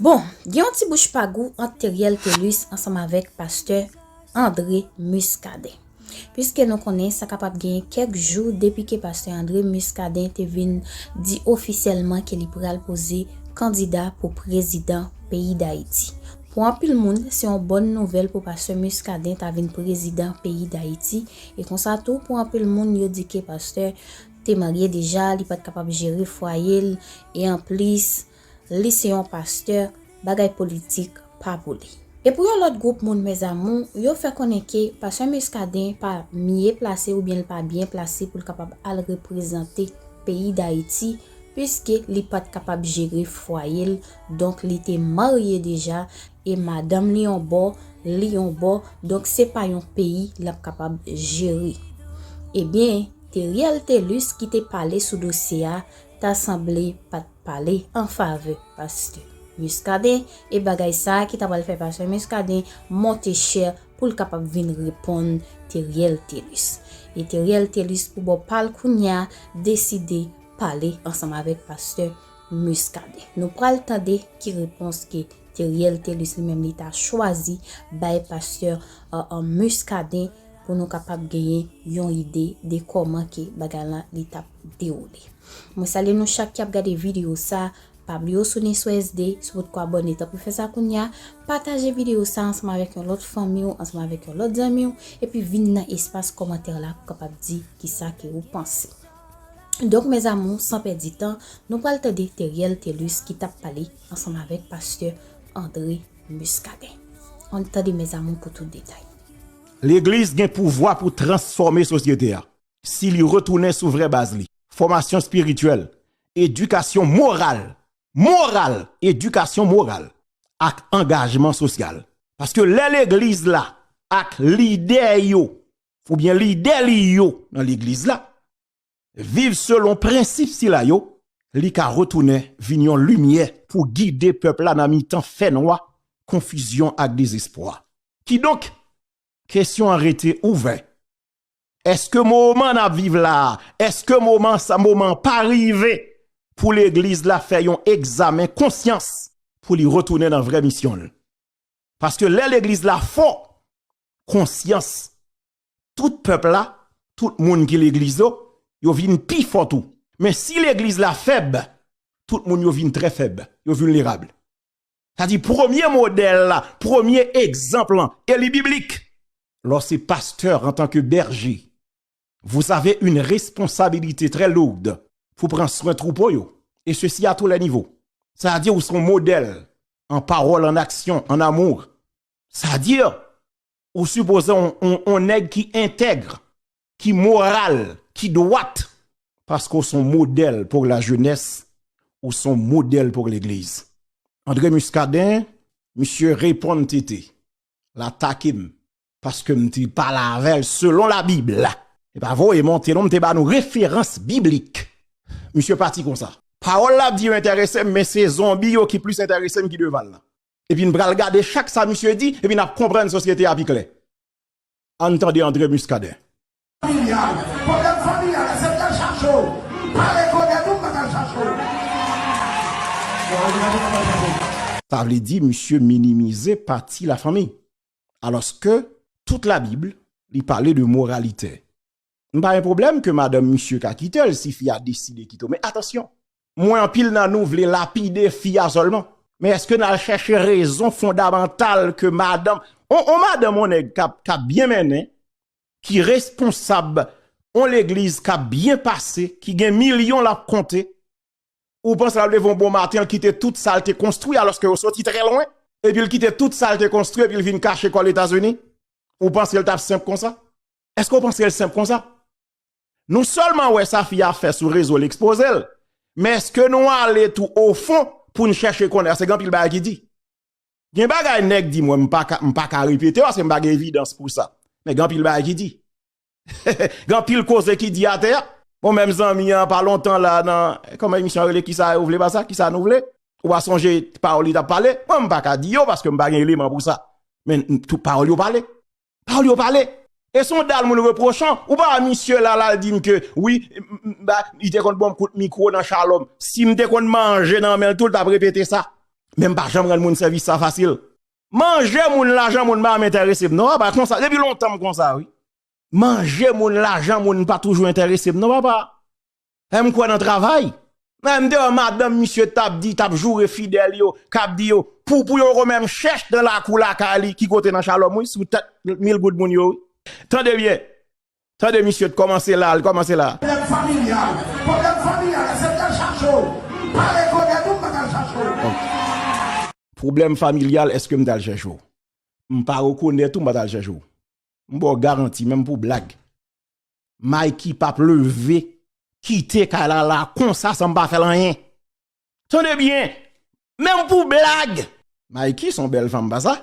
Bon, gen yon ti bouch pa gou ant Theriel Thelus ansanm avèk pastè André Muscadin. Puiske nou konnen sa kapab genyen kèk jou depi ke pastè André Muscadin te vin di ofisyèlman ke li pral poze kandida pou prezidan peyi Dayiti. Pou anpil moun, se yon bòn nouvèl pou pastè Muscadin ta vin prezidan peyi Dayiti, e konsa tou pou anpil moun yo di ke pastè te marye deja, li pat kapab jere fwaye l, e anplis, Li se yon pastè, bagay politik pa pou li. E pou yon lòt gwoup moun mes amours, yo fè konnen ke pastè Muscadin pa mye plase oubyen li pa byen plase pou l kapab al reprezante peyi Dayiti puiske li pat kapab jere fwaye l donk li te marye deja e madanm li yon bò, li yon bò donk se pa yon peyi l ap kapab jere. Ebyen, Theriel Thelus ki te pale sou dosye a ta sanble pat. pale an favè pastè Muscadin e bagay sa ki ta pral fè pastè Muscadin monte chè pou l kapab vin reponn Theriel Thelus. E Theriel Thelus pou bò pa l kounye a deside pale ansanm avèk pastè Muscadin. Nou pral tande ki repons ke Theriel Thelus li menm li ta chwazi bay pastè Muscadin pou nou kapab genyen yon ide de kòman ke bagay lan li t ap dewoule. Mwen salye nou chak ki ap gade video sa, pa bliye ou sou nen sou SD, si w potko abòne tanpri fè sa kounya, pataje video sa ansanm avèk yon lòt fanmi w, ansanm avèk yon lòt zanmi w, epi vin nan espas kòmantè la pou kapab di kisa ke ou panse. Donk mes amours san pèdi tan, nou pral tande Theriel Thelus ki tap pale ansanm avèk pastè André Muscadin. Ann tande mes amours pou tout detay. Legliz gen pouvwa pou transfòme sosyete a. si li retounen sou vrè baz li, fòmasyon espirityèl, edikasyon moral, moral! edikasyon moral ak angajman sosyal. Paske lè legliz la ak lidè yo oubyen lidè li yo nan legliz la viv selon prensip sila yo, li ka retounen vin yon limyè pou gide pèp la nan mitan fènwa, konfizyon ak dezespwa. Kidonk, kesyon an rete ouvè Eske moman nap viv la, eske moman sa moman pa rive pou legliz la fè yon egzamen konsyans pou li retounen nan vrè misyon l? Paske lè legliz la fò konsyans tout pèp la, tout moun ki legliz yo, yo vin pi fò tou. Men si legliz la fèb, tout moun yo vin trè fèb, yo vilnerab. Sa di premye modèl la, premye egzanp lan, e li biblik. Lè w se pastè antanke bèje, vous avez une responsabilité très lourde pou pran swen twoupo yo, et ceci à tous les niveaux. Sa di ou se yon modèl an pawòl, an aksyon, an amour. Sa di ou sipoze yon nèg ki entègre, ki moral, ki dwat, paske w son modèl pou la jenès, ou son modèl pou legliz. André Muscadin, misye reponn TT, l atake m, paske m te pale avè l selon la bib. Li pa voye monte non, m te ba nou referans biblik. Misye pati konsa. Pawòl l ap di yo enterese m, men se zonbi yo ki plis enterese m ki devan l lan. Epi n pral gade chak sa misye di, epi n ap konprann sosyete a pi klè. Ann tande André Muscadin. Familyal, pwoblèm familyal la se m t al chache w, m pa rekonèt ou m pa t al chache w. Sa vle di misye minimize pati la fanmi. Alòske tout la Bible li pale de moralite. M pa gen pwoblèm ke madanm misye ka kite l si fi a deside kite l. Men atansyon, mwen anpil nan nou vle lapide fi a sèlman. Men eske n al chèche rezon fondamantal ke madanm, on madanm, on nèg k ap byen mennen, ki responsab, on legliz k ap byen pase, ki gen milyon l ap konte, ou panse l ap leve on bon maten, l kite tout sa l te konstwi alòske yo soti trè lwen, epi l kite tout sa l te konstwi epi l vin kache kò l Etazini? Ou panse l t ap senp konsa? Eske w panse l senp konsa? Nou sèlman wè sa fi a fè sou rezo l ekspoze l, men eske nou ale tou ofon pou n chèche konnen paske gen anpil bagay ki di. Gen bagay nèg di mwen m pa ka repete yo paske m pa gen evidans pou sa, men gen anpil bagay ki di. Gen anpil koze ki di atè a. Bon menm zanmi an pa lontan la nan, kòman emisyon an rele kisa yo vle pa sa, kisa nou vle? Ou pa sonje pawòl li t ap pale? Mwen m pa ka di yo paske m pa gen eleman pou sa, men tout pawòl yo pale. Pawòl yo pale. E son dal moun reprochan. Ou pa wè misye la lal dim ke wi li te konn banm kout mikro nan shalom. Sim te konn manje nan menl tou l tap repete sa. Men m pa janm rann moun sèvis sa fasil. Manje moun lajan moun pa janm enterese m non papa konsa depi lontan m konsa wi. Manje moun lajan moun pa toujou enterese m non papa. Eeh m kwè nan travay. Eeh m te wè madanm misye tap di, tap joure fidèl yo, kap di yo pou pou yon gonm m chèch nan lakou lakay li ki kote nan Shalom wi sou tèt mil goud moun yo wi. Tande byen. Tande misye t kòmanse la, l kòmanse la. Pwoblèm familyal, pwoblèm familyal èske m t al chache w? M pa rekonèt ou m pa t al chache w non. Pwoblèm familyal èske m t al chèche w? M pa rekonèt ou m pa t al chèche w. M ba w garanti menm pou blag. Mikey pap leve kite kay la la konsa san m pa fèl anyen tande byen menm pou blag Mikey son bèl fanm pasa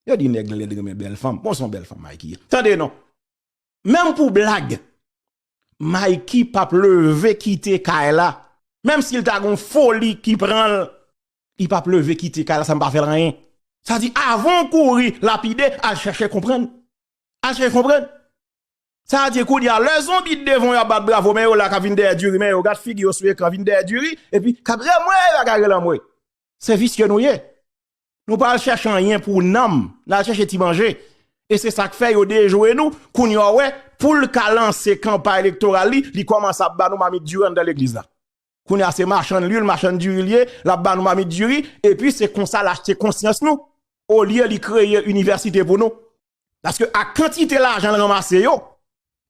yo di nèg lèd renmen bèl fanm bon son bèl fanm Mikey tande non menm pou blag Mikey pap leve kite kay la menm sil ta gon foli ki pranl li pap leve kite kay la san m pa fèl anyen sa di avan w kouri lapide al chèche konprann al chèche konprann. Sa a di kounye a lè zonbi t devan w yap bat bravo men yo la kap vin dèyè diri men yo gad figi yo sou ekran vin dèyè diri epi kap kriye anmweyy bagay rele anmweyy se visye nou ye nou pa al chèche anyen pou nanm nal chèche ti manje e se sak fè yo dejwe nou kounye a w wè poul ka lanse kanpay elektoral li li kòmanse ap ba nou mamit diri anndan legliz la. Kounye a se machann lwil, machann diri l ye, l ap ba nou mamit diri, epi se konsa l achte konsyans nou, olye li kreye inivèsite pou nou. Paske ak kantite lajan l ranmase yo,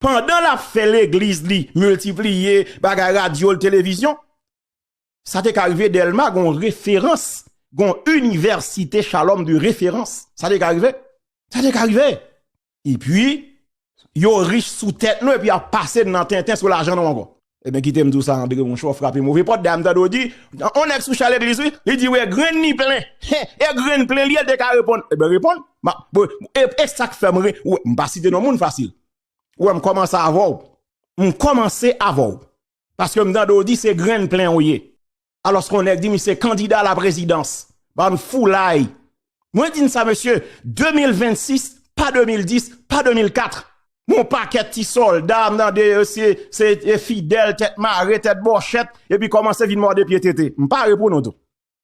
pandan l ap fè legliz li miltipliye, bagay radyo l, televizyon, sa te ka rive Dèlma gon referans, gon inivèsite Chalòm de referans. Sa te ka rive? Sa te ka rive! Epi, yo rich sou tèt nou epi y ap pase n nan tenten sou lajan nou ankò. Eben, kite m di w sa André monchè, w frape move pòt, dayè m tande w di, on nèg sou cha legliz wi, li di w e grenn ni plen, he, e grenn plen li ye, l te ka reponn, eben reponn, m ap, bon, e, e sa k fè m ri, ou wè, m pa site non moun fasil, ou wè m kòmanse avè w, m kòmanse avè w. Paske m tande w di se grenn plen w ye. Alòske yon nèg di misye se kandida laprezidans. Bann foulay. Mwen di n sa mesye, 2026, pa 2010, pa 2004. Men yon pakèt ti sòlda m tande yo se fidèl tèt mare, tèt bòchèt, epi kòmanse vin mòde pye tete. M pare pou nou tou.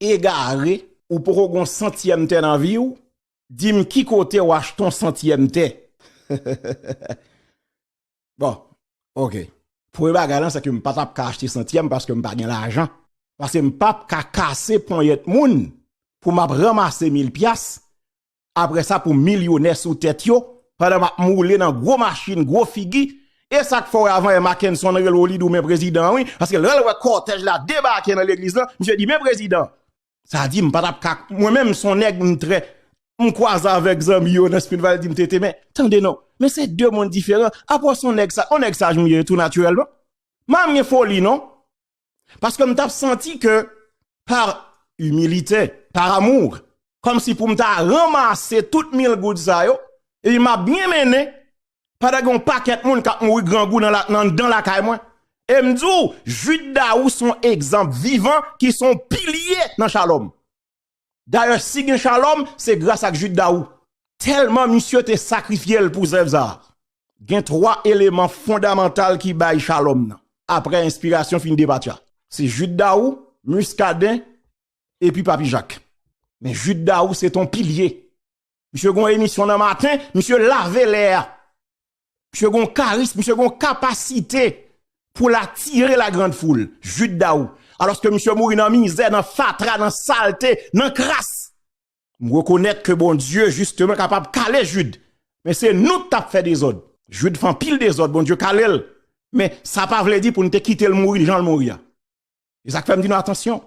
egare. Ou poko gon santyèm tè nan viw dim ki kote ou achte yon santyèm tè bon ok premye bagay lan sèke m patap ka achte santyèm paske m pa gen lajan paske m pap ka kase ponyèt moun pou map ranmase mil pyas Apre sa pou milyonè sou tèt yo, pandan map moule nan gwo machin, gwo figi, e sak fè wè avan yè Mackenson rele w li di w men prezidan wi, paske lè l wè kòtèj la debake nan legliz lan, misye di men prezidan, sa di m pa tap ka, mwen menm m son nèg m trè, m kwaze avèk zanmi yo nan Smith Valley di m TT men, tande non, men se 2 mond diferan, apa w son nèg sa, on nèg saj m ye tou natirèlman, m pa menm gen foli non, Paske m tap santi ke par humilite, par amour, kom si pou m ta ranmase tout mil goud sa yo, epi m ap byen mennen, pandan gen yon pakèt moun kap mouri grangou nan dan lakay mwen. E m di w, Jude Daou son egzanp vivan ki son pilye nan Shalom. Dayè si gen Shalom se gras ak Jude Daou. Tèlman misye te sakrifye l pou zèv sa a. Gen 3 eleman fondamantal ki bay Shalom nan. Aprè enspirasyon fin depatcha. Se Jude Daou, Muscadin epi Papi Jacques. Men Jude Daou se ton pilye. Misye gon emisyon nan maten, misye lave lè a. Misye gon karism, misye gon kapasite pou la tire la grand foul. Jude Daou. Alos ke misye mouri nan mize, nan fatra, nan salte, nan kras. M rekonet ke bon Dieu justement kapab kale Jude. Men se nou ki tap fe dezod. Jude fan pil dezod, bon Dieu kale l. Men sa pa vle di pou nou te kite l mouri jan l mouri a. E sak fem di nou atansyon.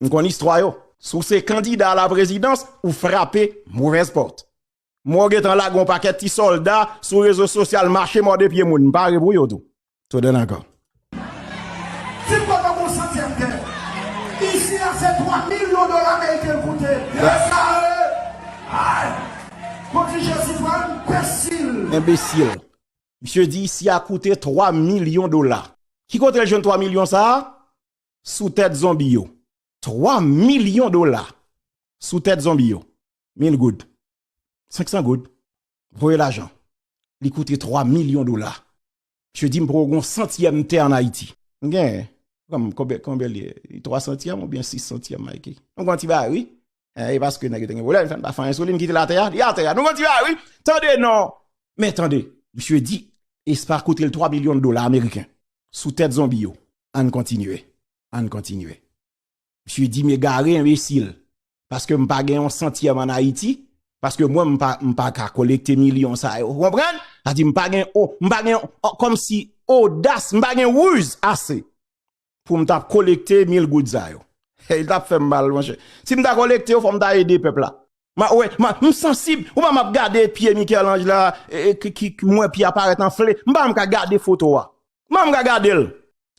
M konn istwa yo. Si w se kandida a la prezidans, ou frape movez pot. Mwen w gentan lage yon pakèt ti sòlda sou rezo sosyal mache mòde pye moun. M pare pou yo tou. To done ankò. Ti kòb an bon santyèm tè. Isi a se 3 milyon dola meriken l koute. Yes sare! Ay! Kote Jezi pran n? Enbesil! Enbesil! Misye di isi a koute 3 milyon dola. Ki kote l jwenn 3 milyon sa a? Sou tèt zonbi yo. 3 milyon dola sou tèt zonbi yo. 1000 goud, 500 goud, voye lajan, li koute 3 milyon dola. Misye di m poko gen yon santyèm tè an Ayiti. M gen, konbyen li ye? 3 santyèm oubyen 6 santyèm Mikey? Nou gen yon ti bagay wi. E paske nèg yo te gen volè, li fè n pa fè anyen sou li, m kite l atè a, li atè a. Nou gen yon ti bagay wi. Tande non! Men tande, misye di e sa koute l 3 milyon dola ameriken. Sou tèt zonbi yo. Ann kontinye. Ann kontinye. Misye di m egare, enbesil. Paske m pa gen yon santyèm an Ayiti, paske mwen m pa ka kolekte milyon sa yo. Ou konprann? Sa di m pa gen, m pa gen, kòm si odas, m pa gen ruz ase pou m ta kolekte mil goud sa yo. Hey, l ta fè m mal, monchè. Si m ta kolekte yo, fò m ta ede pèp la. Ma wè, ma, m sansib, ou pa m ap gade pye Michel-Ange la, ki, m wè pye a parèt anfle, m pa m ka gade foto a. M pa m ka gade l.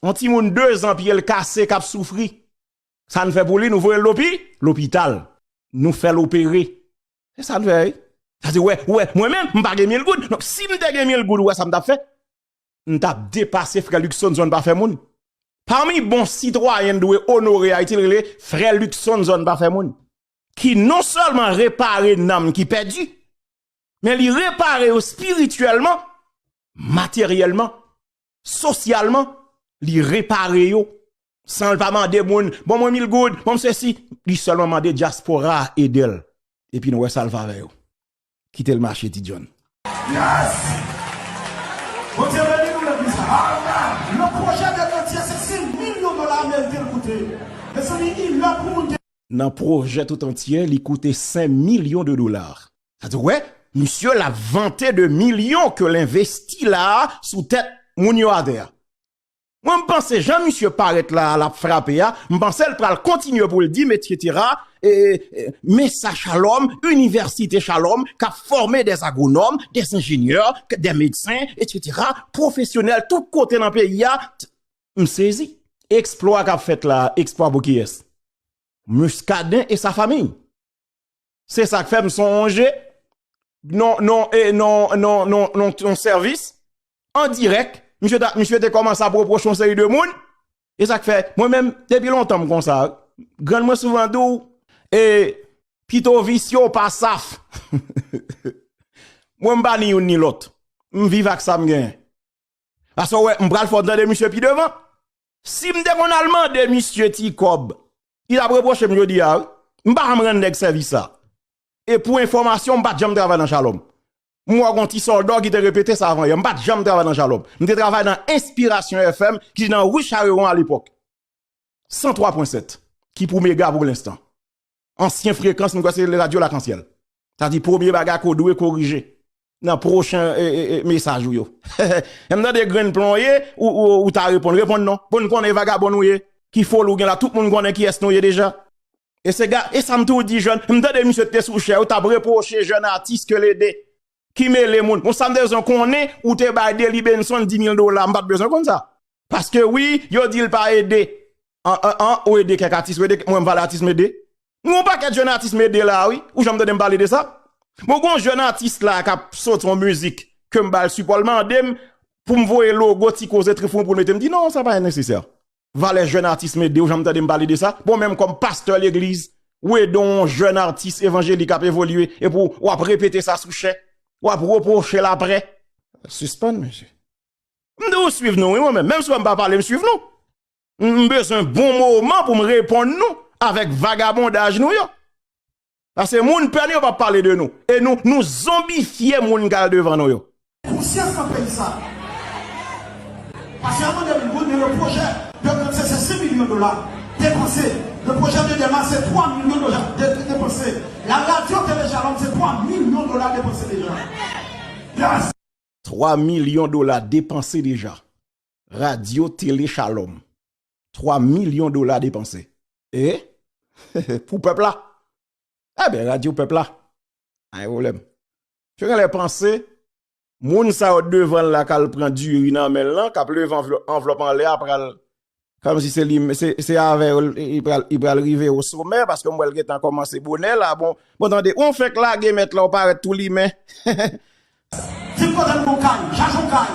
On timoun dezan pye l kase k ap soufri. Sa n fè pou li, nou voye l lopi, lopital. Nou fè l opere. Se sa n fè wi. Sa se wè, wè, mwen menm, m pa gen mil goud. Donk, si m te gen mil goud, ou wè sa m t ap fè? M t ap depase frè Luckson zòn pa fè moun. Pami bon sitwayen n dwe onore Ayiti, l rele frè Luckson zòn pa fè moun. ki non sèlman repare nanm ki pèdi, men li repare yo spirityèlman, materyèlman, sosyalman, li repare yo, san l pa mande moun, bon mwen mil goud, bon m sesi, li sèlman mande dyaspora a ede l, epi nou wè sa l va vè yo. Kitel mache ti John. Yes! Bondye beni nou legliz la. Amen! Yon pwojè de kantye se 5 milyon dola ameriken l koute. Mezanmi i lè pou moun te. Nan pwojè tout antye li koute 5 milyon de dolar. Sa di w wè misye la vante de milyon ke l envesti la sou tèt moun yo atè a. Mwen m panse jan misye parèt la lap frape a m pansel pral kontinye poul dim etc men sa shalom université shalom kap fòme des agronòm des enjenyè des medsen etc profesyonèl tout kote nan peyi a t m sezi. Eksplwa kap fèt la a, eksplwa pou kiyès? Muscadin et sa famille. Se sa k fè m sonje non, non, eh, non, non, non, non, non sèvis an dirèk, misye ta, misye te kòmanse ap repwoche yon seri de moun. E sa k fè, mwen menm, depi lontan m konsa, grann mwen souvan di w, eh, pito visye w pa saf. Mwen m pa ni youn ni lòt. M viv ak sa m gen. Paske wè, m pral fè w tande misye pi devan. Si m te konn al mande misye ti kòb, li t ap repwoche m jodi a wi. M pa janm rann nèg sèvis sa. E pou enfòmasyon w, m pa t janm travay nan Shalom. M wè w gon ti sòlda w ki te repete sa avan yè. M pa t janm travay nan Shalom. M te travay nan Enspirasyon FM ki nan Ri Charewon alepòk. 103.7 ki pou mega pou lenstan. ansyen frekans mwen kwè se radyo lakansyèl sa di premye bagay ke w dwe korije nan pwochen mesaj ou yo lè m tande grenn plon ye ou ta reponn reponn non pou n konnen vagabon nou ye ki foli w gen la tout moun konnen kiyès nou ye deja e sa m tou di jèn m tande misye te sou chè yo t ap repwoche jèn atis ke l ede ki mele moun bon sam te bezwen konnen ou te bay Delly Benson 10000 dola m pat bezwen konn sa paske wi yo di l pa ede an ou ede kèk atis ou ede mwen m pale atis m ede gen yon pakèt jèn atis m ede la wi ou janm tande m pale de sa bon gen yon jèn atis la kap soti yon mizik ke m bal sipò l mande m pou m voye logo ti koze trifon pou l mete m di non sa pa nèsesè. valè jèn atis mede ou janm tande m pale de sa bon menm kòm pastè legliz ou ede yon jèn atis evanjelik ap evolye epou wap repete sa sou chè wap repwoche l aprè sispann mesye m di ou swiv nou wi mwen menm menm si w wè m pa pale m swiv nou m bezwen bon moman pou m reponn nou avèk vagabondaj nou yo. Pase moun pè nou yo pa pale de nou. E nou nou zonbifye moun kal devan nou yo. Konsyans nan peyi sa. Pase avan 2000 goud men le pwojè de grand se se 5 milyon dola depanse. Le pwojè de dema se 3 milyon dola depanse. La radyo tele shalom se 3 milyon dola depanse deja. Yes! 3 milyon dola depanse deja. Radyo tele shalom. 3 milyon dola depanse e pou pèp la e ben radyo pèp la pa gen pwoblèm yo genlè panse moun sa yo devan la kal pran diri nan men lan kap leve anvlòp anlè a pral kòm si se li se avè yo li pral rive yo somè paske m wè l gentan kòmanse bonè la bon tande ou fèk lage mèt la ou parèt tou limen he he Vin kote m gon kay, jaj on kay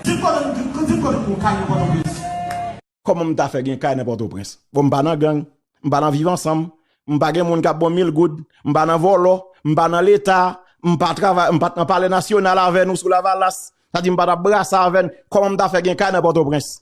Vin kote m, vin kote m gon kay nan Pòtoprens. Kòman m ta fè gen kay nan Pòtoprens? Bon m pa nan gang, m pa nan viv ansanm, m pa gen moun k ap ban m mil goud, m pa nan vòlò, m pa nan Leta, m pa travay, m pa t nan Palè Nasyonal avè nou sou Lavalas, sa di m pa t ap brasa avè n, kòman m ta fè gen kay nan Pòtoprens?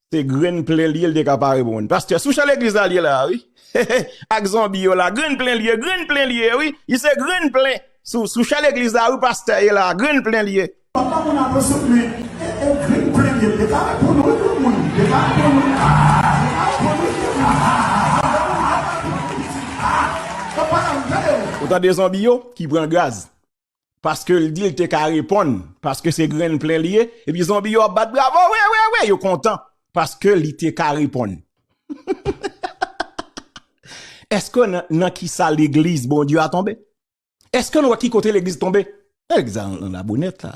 Se grenn plen li yo li te ka pare pou moun. Pastè, sou chan legliz la li ye la a wi. Ak zonbi yo la. Grenn plen li ye, grenn plen li ye wi. Li se grenn plen. Sou chan legliz la wi pastè ye la a. Grenn plen li ye. Papa moun an dosye plen. E e grenn plen li ye. Li te ka reponn wi granmoun. Li te ka reponn wi. Ha ha ha. Li te ka reponn wi granmoun. Ha ha ha. Granmoun li te ka reponn wi pitit. Ha ha. Papa a m tande w. Ou tande zonbi yo ki pran gaz. paske l di l te ka reponn paske se grenn plen li ye epi zonbi yo ap bat bravo wi wi wi yo kontan paske li te ka reponn eske nan ki sa legliz Bondye a tonbe eske nou wè ki kote legliz tonbe egzan nan la bonèt la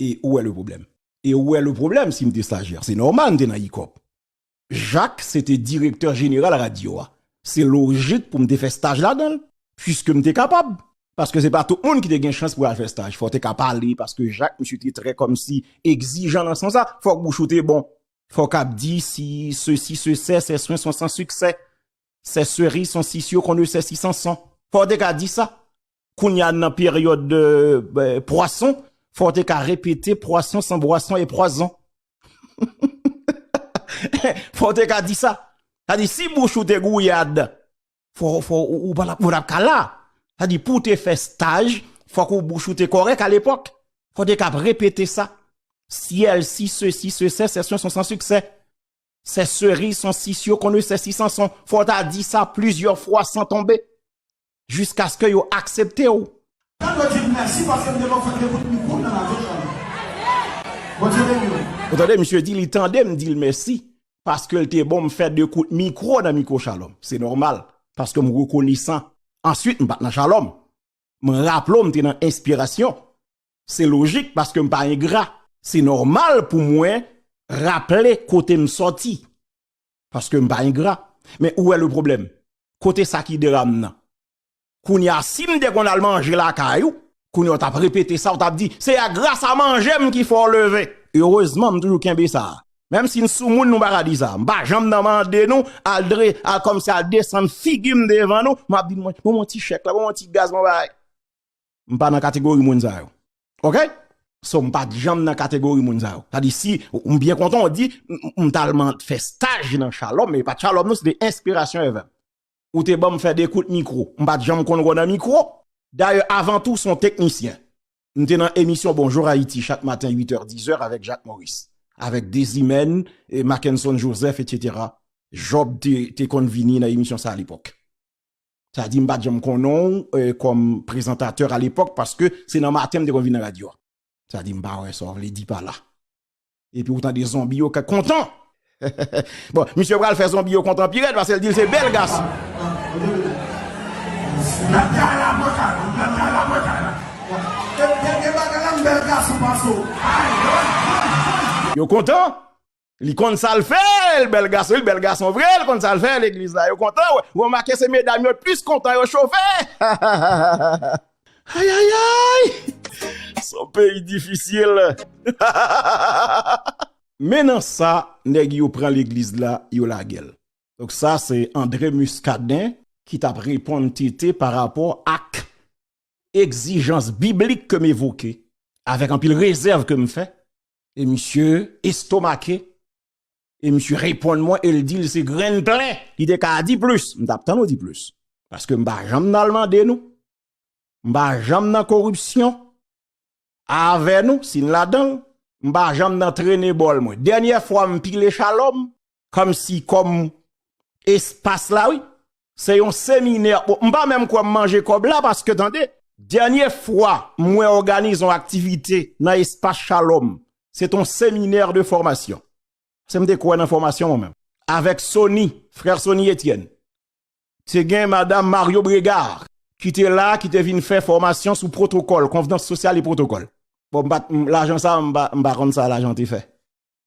e ou wè le pwoblèm? E ou wè le pwoblèm si m te stajyè? Se nòmal m te nan Icop. Jak se te direktè jeneral radyo a. Se lojik pou m te fè staj ladan l, piske m te kapab. Paske se pa tout moun ki te gen chans pou al fè staj. Fò w te ka pale, paske Jak misye te trè kòmsi egzijan nan sans sa. Fòk bouch ou te bon. Fò w kab di si sesi se sè, sè swen son san siksè. Sè seri son si syo kon ne sè si san son. Fò w te ka di sa. Kounya nan peryòd de pwason, fò w te ka repete pwason san bwason e pwazon. Fò w te ka di sa. Sa di si bouch ou te gouyad, fò ou pa tap ka la. Sa di pou w te fè staj, fò ou bouch ou te kòrèk alepòk. Fò w te ka repete sa. Syèl si se si se sè sèsyon son san siksè. Sè Seri son si si yo konnen sè si Sanson fò w ta di sa plizyè fwa san tonbe jiskaske yo aksepte w. Mwen dwe di mèsi paske m gen lòt fè dekout mikwo m nan radyo Shalom. Bondye beni w. Ou tande misye di li tande m di l mèsi paske l te bon m fè dekout mikwo nan mikwo Shalom. Se nòmal paske m rekonesan. Answit m pa t nan Shalom. M raple w m te nan Enspirasyon Se lojik paske m pa engra. Se nòmal pou mwen raple kote m sòti. Paske m pa engra. Men ou wè le pwoblèm? Kote sa ki dera m nan? Kounye a si m te konn al manje lakay ou, kounye a w t ap repete sa, w t ap di, se a gras a manje m ki fè w leve. Erezman m toujou kenbe sa. Menm si n soumoun nou pa ka di sa. M pa janm nan mande nou al dre, al kòmsi al desann figi m devan nou. M ap di nou, bon m yon ti chèk la, bon m yon ti gaz m yon bagay. m pa nan kategori moun sa yo. Ok! So m pa janm nan kategori moun sa yo. Sa di si, m byen kontan w di, m t al man fè staj nan Shalom, e pa t Shalom non, se te Inspiration FM. Ou te ban m fè 2 kout mikwo. M pa t janm konn wou nan mikwo. Dayè, avan tou, son teknisyen. M te nan emisyon Bonjour Haïti chak maten 8 è, 10 è avèk Jacques Maurice. Avèk Dezimèn, Mackenson Joseph, etc. Job te konn vini nan emisyon sa a lepòk. Sa di m pa t janm konnen w kòm prezantatè a lepòk paske se nan maten m te konn vin nan radyo a. Sa di m pa wè sa w vle di pa la. Epi ou tande zonbi yo kèk kontan. Bon, misye pral fè zonbi yo kontan pi rèd paske l di l se bèl gason. Yo kontan! Li konn sal fè, li bèl gason, li bèl gason vre, li konn sal fè, legliz la yo kontan wè, ou remake se medam yo plis kontan yo chofe hahahaha. Ayayayy son peyi difisil hahahaha. Men nan sa nèg yo pran legliz la yo lagel. Donk sa se André Muscadin ki tap reponn TT pa rapò ak egzijans biblik ke m evoke avèk anpil rezèv ke m fè e misye estomake, e misye reponn mwen e l di l se grenn plen li te ka di plis, m t ap tann ou di plis, paske m pa janm nan mande nou, m pa janm nan koripsyon avè nou, si n ladan l, m pa janm nan trene bòl mwen, dènyè fwa m pile chalòm, Kòm si kòm espas la wi. Se yon seminè. Bon, m pa menm kwè m manje kòb la paske tande. Dènye fwa m wè òganize yon aktivite nan espas Shalom, se t yon seminè de fòmasyon. Paske m te kwè nan fòmasyon mwen menm. Avèk Sony, frè Sony Etienne. Te gen madam Mario Bregard ki te la, ki te vin fè fòmasyon sou pwotokòl, konvnans sosyal e pwotokòl. Bon, m pa, lajan sa, m pa konn sa lajan te fè.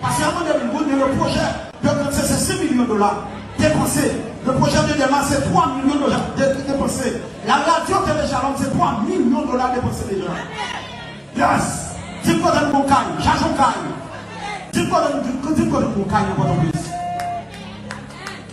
Pase a mande moun men le pwojè de Kantse se 5 milyon dola depanse, le pwojè de Dema se 3 milyon dola depanse, la radyo Tele Shalom se 3 milyon dola depanse deja. Yes! Dim kote nou gon kay, jajon kay. Dim kote nou dim kote nou gon kay nan Pòtoprens.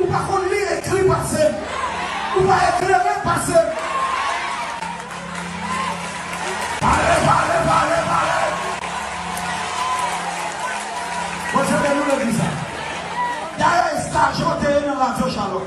Ou pa konn li ekri pase m. Ou pa eklere pase m. Pale, pale, pale, pale. Bon se te nou le di sa. Dayè estajan te ye nan radyo Shalom.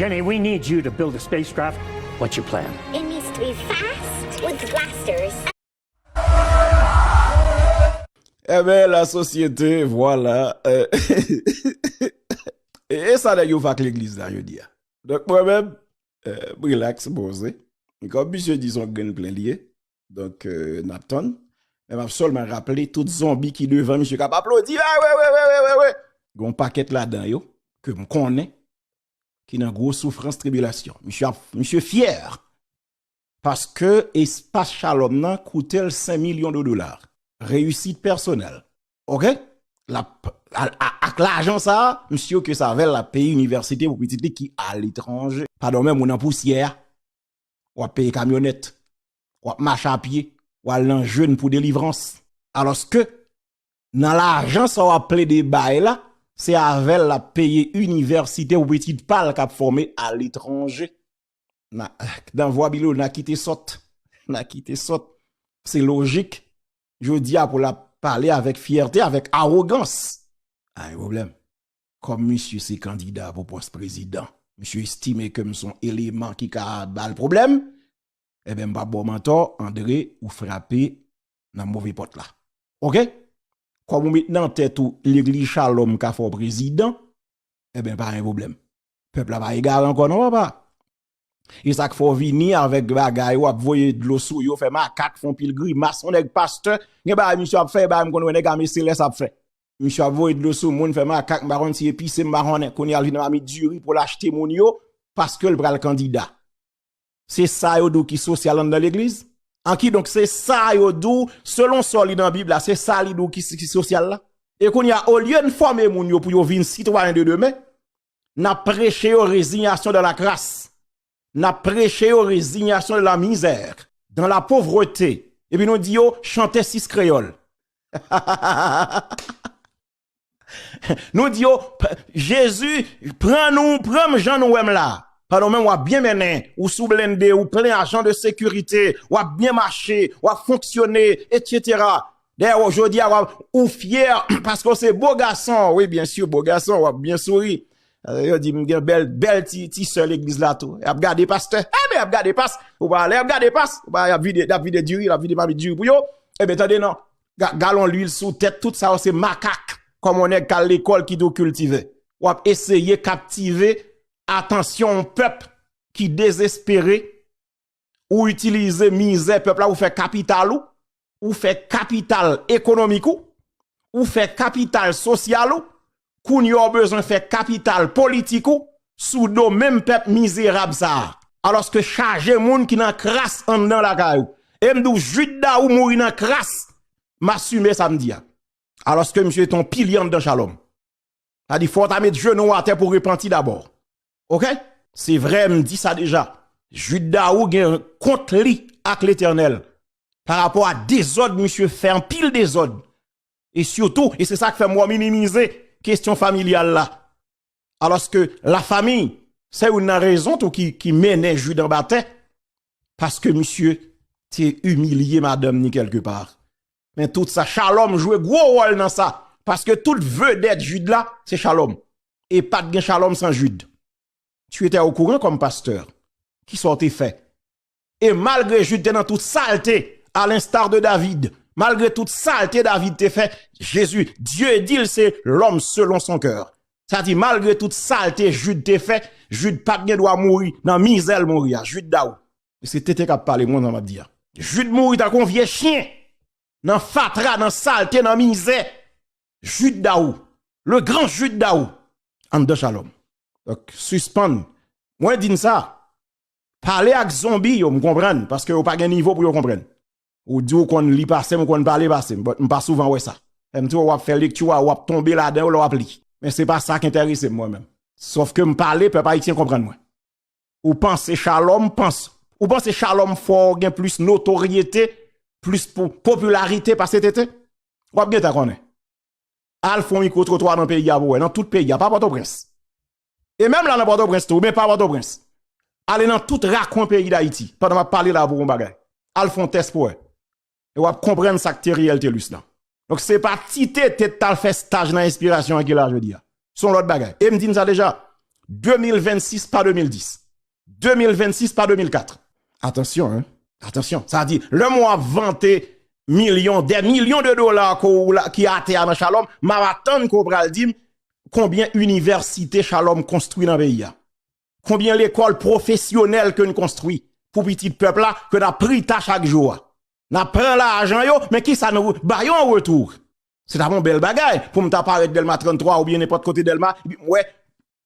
Jenny we need you to build a spacecraft what you plan. It needs to be fast with blasters. Enben la sosyete vwala eehh e sa nèg yo fè ak legliz la jodi a donk mwen menm m rilaks m poze e kòm misye di son grenn plen li ye Donk nap tann. Men map solman raple tout zonbi ki devan misye kap aplodi. Wewewewewewe. Gon paket la dan yo ke m konnen ki nan gwo soufrans tribilasyon. Misye fyer. Paske espas shalom nan koute l 5 milyon de dolar. Reyisit personel. Ok. Ak la ajan sa a misye ok sa vel la peyi universite pou pitit li ki aletranje. Padon men mou nan pousye a. w ap peye kamyonèt, w ap mache a pye, w al nan jèn pou delivrans. Alòske, nan lajan sa w ap plede bay la, se avè l l ap peye inivèsite pou pitit pa l k ap fòme aletranje. Nan vwa Bilo, nan kite sòt. Nan kite sòt. Se lojik, jodi a pou l ap pale avèk fyète, avèk awogans. A gen pwoblèm. Kòm misye se kandida pou pòs prezidan, misye estime ke m son eleman ki ka ba l pwoblèm, enben m pa p ba w mantò, Andre, ou frape nan move pòt la. Ok? Kòm ou met nan tèt ou legliz Shalom ka fè w prezidan, enben pa gen pwoblèm. Pèp la pa egare ankò non papa! E sak fè w vini avèk bagay ou ap voye dlo sou yo fè makak fon pil grimas on nèg pastè gen bagay misye ap fè e bagay m konn wè nèg ame selès ap fè misye ap voye dlo sou moun fè makak m pa konn si e pise m pa konnen kounye a l vin mamit diri pou l achte moun yo paske l pral kandida se sa yo di w ki sosyal anndan legliz an kidonk se sa yo di w selon sa w li nan bib la se sa li di w ki sosyal la e kounye a olye n fòme moun yo pou yo vin sitwayen de demen N ap preche yo rezinyasyon dan lakras, n ap preche yo rezinyasyon dan lamizè, dan lapovrete, epi nou di yo chante sis kreyòl. Nou di yo, Jezi, pran nou, pran m jan nou wè m la. Pandan ou menm w ap byen mennen, ou sou blende, ou plen ajan de sekirite, w ap byen mache, w ap fonksyone, etsetera. Dayè wap jodi a wap ou fyè paske ou se bo gason wi byen si bo gason wap byen souri yo di m gen bèl bèl ti sè legliz la tou yap gade pastè e byen yap gade past ou pa ale yap gade past ou pa ale yap vide yap vide diri yap vide mami diri pou yo e byen tande nan galon lwil sou tèt tout sa yo se makak kòm on nèg kal lekòl ki tou kiltive wap eseye kaptive atansyon on pèp ki dezespere. ou itilize mizè pèp la ou fè kapital ou, ou fè kapital ekonomik ou, ou fè kapital sosyal ou, kounye a w bezwen fè kapital politik ou sou do menm pèp mizerab sa a. Alòske chaje moun ki nan kras anndan lakay ou. E m di w Jude Daou mouri nan kras, m asime sa m di a. Alòske misye te yon pilye anndan Shalom. Sa di fò ta met jenou w atè pou repanti dabò. Ok? Se vre m di sa deja. Jude Daou gen kont li ak Letènèl pa rapò a dezòd misye fè anpil dezòd. E sitou, e se sa k fè m wè w minimize kesyon familyal la. Alòske la fami, se youn nan rezon tou ki mennen Jude anba tè. Paske misye te imilye madanm ni kelke pa. Men tout sa Shalom jwe gwo wòl nan sa paske tout vedèt Jude la se Shalom e pat gen Shalom san Jude. Tu etais au courant comme pasteur? Kisa w te fè? E malgre Jude te nan tout salte a l'instar de David, malgre tout salte David te fè, Jezi, Dye di l se l'homme selon son coeur. Sa di malgre tout salte Jude te fè, Jude pat gen dwa mouri nan mizè l mouri a, Jude Daou. Se tete kap pale mwen map di a. Jude mouri tankou yon vye chien nan fatra nan salte nan mizè Jude Daou le grand Jude Daou anndan Shalom ok sispann mwen di n sa pale ak zonbi yo m konprann paske yo pa gen nivo pou yo konprann ou di ou konn li pase m ou konn pale pase m but m pa souvan wè sa m t wè wap fè lekti w a wap tonbe ladan yo lè wap li men se pa sa k entèrese m mwen menm sof ke m pale pèp ayisyen konprann mwen. Ou panse Shalom panse Ou panse Shalom fè w gen plis notoryete Plis pou popilarite pase TT W ap gen ta konnen Al fon mikro twotwa nan peyi a pou wè Nan tout peyi a pa Pòtoprens E menm la nan Pòtoprens tou ou byen pa Pòtoprens Ale nan tout rakwen peyi dayiti Pandan m ap pale la pou w wè yon bagay Al fon tès pou wè E wap konprann sak te Riel Telus lan. Donk se pa ti tete t al fè staj nan enspirasyon an ki la jodi a. Se yon lòt bagay. E m di n sa deja, 2026 pa 2010. 2026 pa 2004. Atansyon hein, atansyon. Sa di, lè mwen ap vante milyon, dè milyon de dola ke w la, ki atè a nan Shalom, m ap atann ke w pral di m konbyen inivèsite Shalom konstwi nan peyi a. Konbyen lekòl pwofesyonèl ke n konstwi pou pitit pèp la ke n ap prita chak jou a? N ap pran lajan yo, men ki sa nou ba yo an retou? Se t ap yon bèl bagay pou m ta parèt Dèlma 33 oubyen nenpòt kote Dèlma epi m wè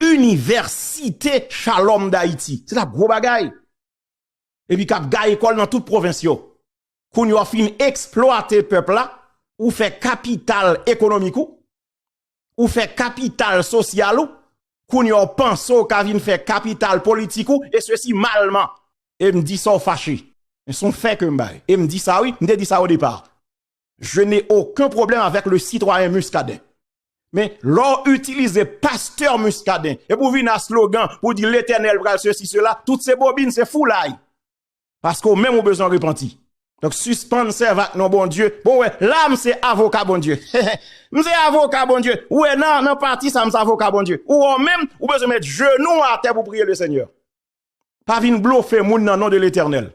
Inivèsite Chalòm Dayiti. Se t ap gwo bagay. Epi k ap ga ekòl nan tout pwovens yo. Kounye w ap fin eksplwate pèp la, ou fè kapital ekonomik ou. ou fè kapital sosyal ou, kounye a w panse w ka vin fè kapital politik ou, e se si malman, e m di sa w fache, men son fè ke m bay, e m di sa wi, m te di sa o depa, je ne oken pwoblèm avèk le sitwayen Muscadin, men lò w itilize pastè Muscadin, e pou vin a slogan, pou di letènèl pral se si se la, tout se bobin, se foulay. Paske ou menm ou bezwen repanti. Donk sispann sèv ak non Bondye. Bon wè, la m se avoka Bondye. M se avoka Bondye. Ou wè nan pati sa m se avoka Bondye. Ou wè ou menm, ou bezwen met jenou ou atè pou w priye le Senyè. Pa vin blofe moun nan non de Letènèl.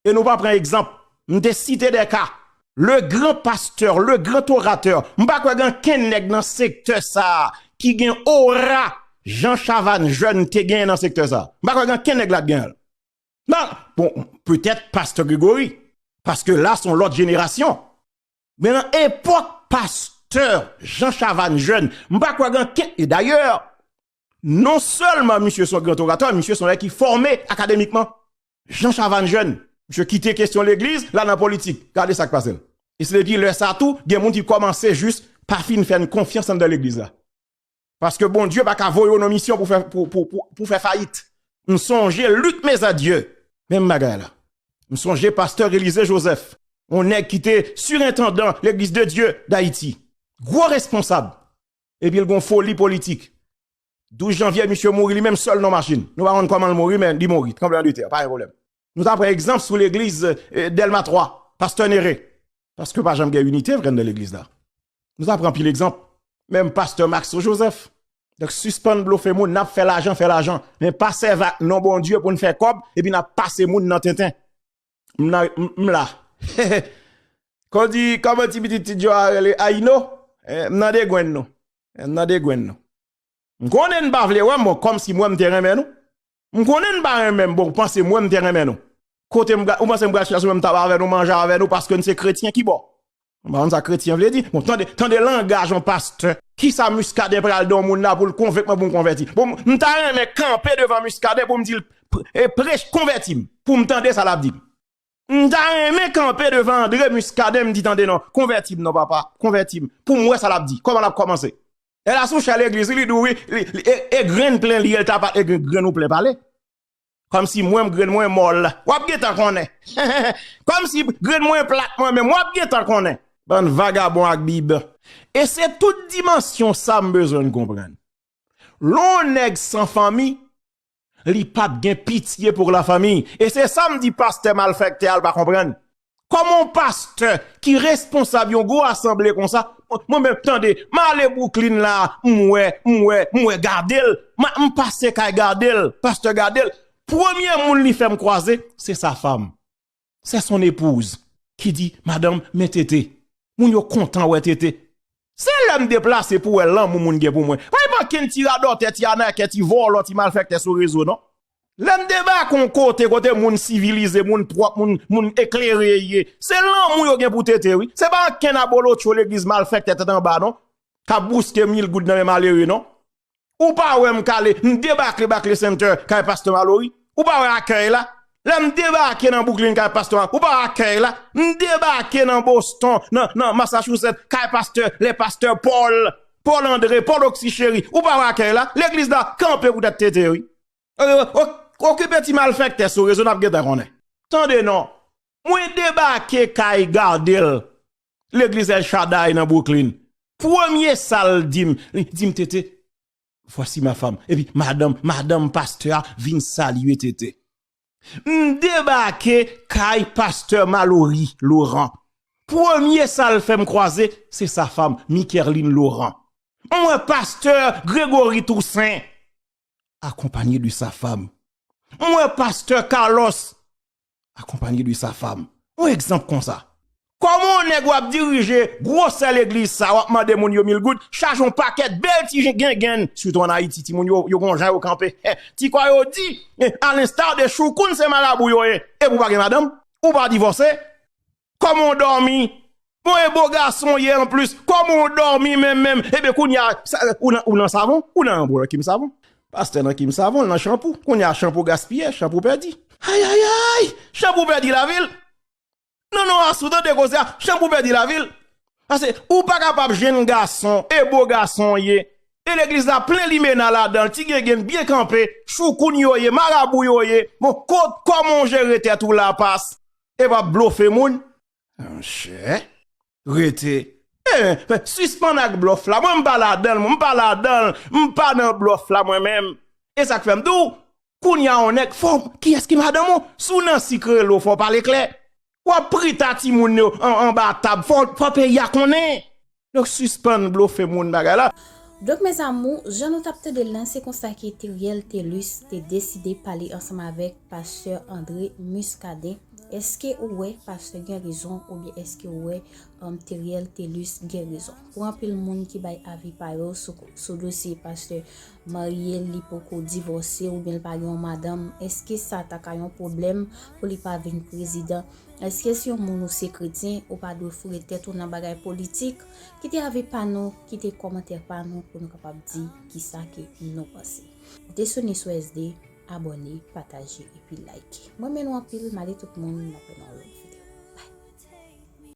E nou pa pran egzanp. M te site de ka. Le gran pastè, le gran oratè. M pa kwè gen ankenn nèg nan sektè sa a ki gen ora jan Chavannes Jeune te gen nan sektè sa a. M pa kwè gen ankenn nèg la ki gen l. Nan, bon, petèt pastè Gregory, paske la son lòt jenerasyon. Men nan epòk pastè Jean Chavannes Jeune, m pa kwè gen ken, e dayè, non sèlman misye son gran oratè, misye son nèg ki fòme akademikman. Jean Chavannes Jeune, misye kite kesyon legliz, l al nan politik. Gade sa k pase l. E se depi lè sa tou, gen moun ki kòmanse jis pa fin fè n konfyans anndan legliz la. Paske Bondye pa ka voye w nan misyon pou fè fayit. M sonje Luc Mesadieu, menm bagay la. M sonje pastè Elysée Joseph, yon nèg ki te sirentandan Legliz de Dye Dayiti. Gwo responsab. Epi l gon foli politik. 12 janvye misye mouri li menm sèl nan machin. Nou pa konn kòman l mouri men li mouri. Tranbleman de tè, pa gen pwoblèm. Nou ta pran egzanp sou Legliz Delma 3, pastè Néré. Paske pa janm gen inite vre anndan Legliz la. Nou ta pran pil egzanp, menm pastè Maxo Joseph. Donk sispann blofe moun, nap fè lajan, fè lajan, men pa sèvi ak non Bondye pou n fè kòb epi nap pase moun nan tenten. M nan, m la. Kon di, kòman ti pitit ti Djo a rele, Ayino? M nan degwenn nou. M nan degwenn nou. M konnen n pa vle wè m, bon kòmsi mwen m te renmen nou. M konnen n pa renmen m bon w panse mwen m te renmen nou kote m ou panse m pral chèche mwen m ta ba avè nou manje avè nou paske n se kretyen ki bò m pa konn sa kretyen vle di bon tande tande langaj yon pastè kisa Muscadin pral di yon moun la pou l konvenk mwen pou m konvèti bon m ta renmen kanpe devan Muscadin pou m di l prech konvèti m pou m tande sa l ap di m. M ta renmen kanpe devan André Muscadin m di tande non, konvèti m non papa, konvèti m pou m wè sa l ap di, kòman l ap kòmanse. Lè l a sou chè legliz li, li di w wi, e grenn plen li ye l ta pale, e grenn ou plen pale. Kòmsi mwen m grenn mwen mòl, w ap gen tan konnen. Kòmsi grenn mwen plat mwen menm, w ap gen tan konnen. Bann vagabon ak bib. E se tout dimansyon sa m bezwen n konprann. Lè w nèg san fanmi, Li pat gen pitye pour la famille e se sam di pastè malfèktè a l pa konprann. Kòman yon pastè ki responsab yon gwo asanble konsa mwen menm tande m ale Brooklyn la m wè m wè m wè Gardel m pase kay Gardel pastè Gardel premye moun li fè m kwaze se sa fam. c'est son épouse ki di madanm men tete moun yo kontan wè tete se lèm deplase pou wè lanmou moun gen pou mwen pay pran kenn ti radòtè ti anakè ti vòlò ti malfèktè sou rezo non lèm debake yon kote kote moun sivilize moun pwòp moun eklere ye se lanmou yo gen pou tete wi se pa ankenn abolotcho legliz malfèktè tèt anba non kap bouske mil goud nan men malere non Ou pa wè m kale, m debake Bacle Center kay Pastè Malory? Ou pa wè akèy la? Lè m debake nan Brooklyn kay Pastè Malory, ou pa wè akèy la? M debake nan Boston, nan Massachusetts kay Pastè, le Pastè Paul, Paul André, Paul Oxy Chéry, ou pa wè akèy la? Legliz la kanpe pou tèt tete wi. Okipe ti malfèktè sou rezo n ap gentan konnen. Tande non, mwen debake kay Gardel Legliz El Shaddai nan Brooklyn. Premye sa l di m, li di m, Tete, vwasi ma fam. Epi madanm, madanm pastè a vin salye Tete. M debake kay pastè Malory Laurent. Premye sa l fè m kwaze, se sa fam, Mikerline Laurent. M wè pastè Gregory Toussaint. akonpanye de sa fam. M wè pastè Carlos akonpanye de sa fam. Yon egzanp konsa. Kòman yon nèg wap dirije gwosè legliz sa wap mande moun yo mil goud chaj yon pakèt bèl ti gengenn sitou an Ayiti ti moun yo yo gon jan yo kanpe ti kò yo di a l'instar de choukoun se marabou yo ye epi w pa gen madanm ou pa divòse Koman w domi? Bon e bo gason w ye anplis, koman w domi menm menm? Ebyen kounye a, ou nan savon? Ou nan yon bol ki m savon? Pastè nan ki m savon, l nan chanpou. Kounye a chanpou gaspiye, chanpou pèdi. Ayayayy! Chanpou pèdi lavi l? Non non Asou, tande koze a, chanpou pèdi lavi l? Pase ou pa kapab jenn gason, e bo gason w ye, e legliz la plen limena ladan l, ti gengen n byen kanpe, choukoun yo ye, marabou yo ye, bon koman w jere tèt ou la pas? e pa blofe moun monchè rete eeh sispann ak blof la mwen m pa ladanl mwen m pa ladanl m pa nan blof la mwen menm e sak fèm diw kounya on nèg fò kiyès ki madanm ou si w nan sik rele w fò w pale klè wap prita timoun yo anba tab fò peyi a konnen. Donk sispann blofe moun bagay la. Donk mes amours jan nou tap tandel lan se konsa ke Theriel Thelus te deside pale ansanm avek pastè André Muscadin eske ou wè pastè gen rezon oubyen eske ou wè Theriel Thelus gen rezon pou anpil moun ki bay avi pa yo sou dosye pastè marye li poko divòse oubyen li pa gen yon madanm eske sa ta ka yon pwoblèm pou li pa vin prezidan eske si yon moun ou se kretyen ou pa dwe foure tèt ou nan bagay politik kite avi pa nou kite kòmantè pa nou pou nou kapab di kisa ke nou panse desone sou SD abòne pataje epi like mrenmen nou anpil male tout moun nan pwè nan yon lòt video bye.